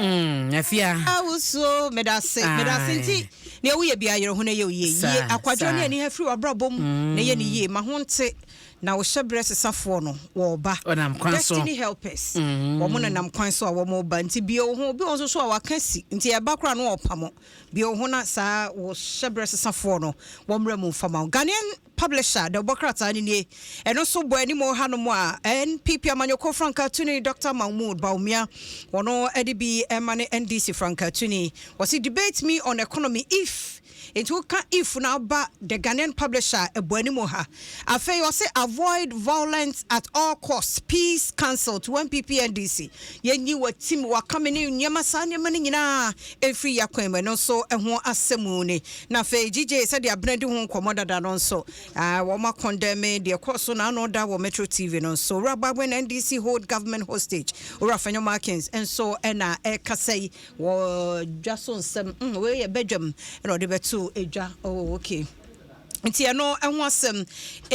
Mm, afia. Awusuo, ah, medase, medase nti nea woyɛ bi ayerɛ ho na yɛ oyie yie akwadwa ne ani afiri w'abrabɔ mu mm. na yɛ ne yie ma ho nte na wohyɛ berɛ sesafoɔ no wɔɔba destiny helpers mm. wɔn na nam kwan so a wɔn ba nti bie wo ho obi wɔn soso a waka si nti ɛba koraa no wɔpa mo bie wo ho na saa wɔhyɛ berɛ sesafoɔ no wɔn mmerɛ mu nfama Ghanaian Publisher, The Ɔbɔ Krataa no nie. Ɛno nso bɔ anim wɔ hanom a NPP amanyɔkuo frankaatuni Doctor Mahmood Bawumia, ɔno de bi ma ne NDC frankaatuni. Wɔse debate me on economy if enti woka if no aba The Ghanaian Publisher a ɛbɔ anim wɔ ha. Afei wɔse avoid violence at all costs, peace cancelled to NPP-NDC. Yɛnyi w'atim, w'akame ne nneɛma, saa nneɛma no nyinaa mfiri y'akwan mu. Ɛno nso ho asɛm ni. Na afei GJ, sɛdeɛ Abena di ho nkɔmmɔ dada no nso, ah, wɔn akɔndɛme deɛ ɛkɔɔ so na ano da wɔ Metro TV no nso. Owura Agbagben NDC hold government hostage. Owura Fanyo Markins nso ɛna ɛkasa yi wɔ dwa so nsɛm. Mm, wei yɛ badwam ɛna ɔde bɛto dwa. Oh, okay. Nti ɛno ho asɛm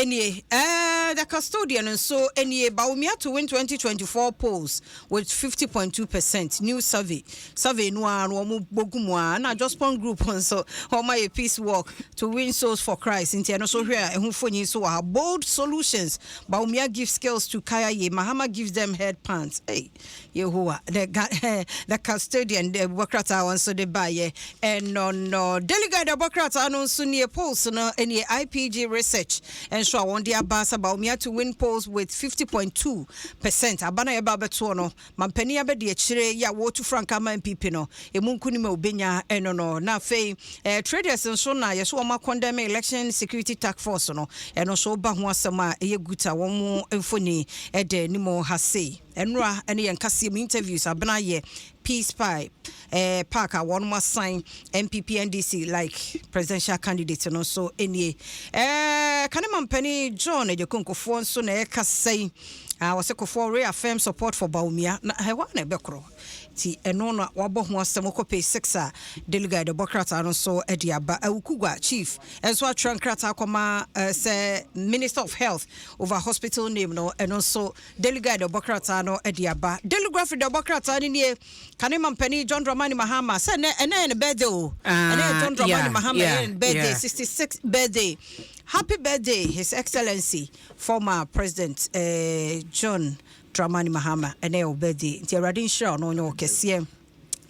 nie. Uh, the custodian nso nie. Bawumia to win 2024 polls with 50.2 percent. New survey. Survey no a no wɔn bogu mu a na Jospon group nso wɔn ayɛ peace walk to win souls for Christ. Nti ɛno nso hwɛ a ɛho fonyi nso wɔ ha. Bold solutions. Bawumia gives skills to Kayaye. Mahama gives them head pants. Hey. Yehowa ne Ga eh, the custodian de bɔ krataa wɔn nso de baeɛ ɛno no delegate de bɔ krataa no nso nie polls no nie IPG research nso a wɔn de aba sɛ Bawumia to win polls with 50.2 percent aba no a yɛba abɛtoɔ no mampanin abɛdi akyire yɛ a wɔretu frankaa ma NPP no emu nkunim a obenya no no. Na afei traders nso na yɛsɛ wɔn akɔndɛm election security task force no, ɛno nso ba ho asɛm a ɛyɛ gut a wɔn mfoni ɛda anim ha sei. Ɛnora ɛne yɛn kaseɛ mu interviews abena yɛ peace pipe eh, park a wɔn asan npp ndc like presidential candidate no nso nie eh, kane mampani john agyakonkofoɔ nso na ɛkasa yi wɔsɛ kofoɔ reaffirm support for baomia na ɛhɔ na ɛbɛkorɔ Nti ɛno na wabɔ ho asɛm wokɔ page six a Delegide ɔbɔ krataa no so de aba. Awukugwa Chief nso atwerɛ nkrataa akɔma sɛ Minister of Health over hospital name no, ɛno nso Delegide ɔbɔ krataa no de aba. Deligraphy deɛ ɔbɔ krataa no nie, Kane Mampanin John Dramani Mahama sɛ ɛnɛ ɛnɛ yɛ ne birthday o, ɛnɛ yɛ John Dramani Mahama yɛ ne birthday, sixty six birthday. Happy birthday His Excellency former President eh, John Dramani Mahama ɛnɛ yɛ wo birthday nti awurade nhyira wo na ɔnyɛ wo kɛseɛ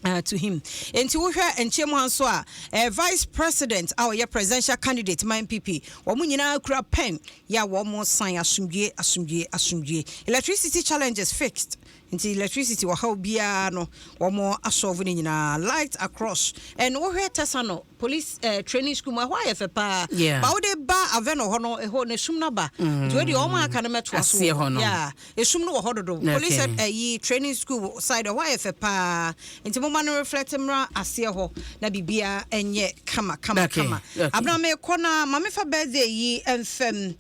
Uh, to him nti wohwɛ nkyɛn mu ha nso a eh, vice president a ɔyɛ presidential candidate ma npp wɔn nyinaa kura pen yɛ a wɔn san asomdwie asomdwie asomdwie electricity challenges fixed nti electricity ɔhaw biara no wɔn asɔɔfo no nyinaa light across ɛna wohwɛ tɛsa no Police eh, training school mu ɛhɔ ayɛ fɛ paa yeah. ba wode ba Aveno hɔ no ɛhɔ no esum no aba mm. nti wode ɔma aka no mɛtoa so wɔ hɔ yeah. esum no wɔ hɔ dodo okay. police ɛyi eh, uh, training school side ɛhɔ ayɛ fɛ paa nti moma no reflect mmra aseɛ hɔ na biribiara ɛnyɛ kama kama okay. kama okay. abena mekɔ na ma mefa birthday yi mfam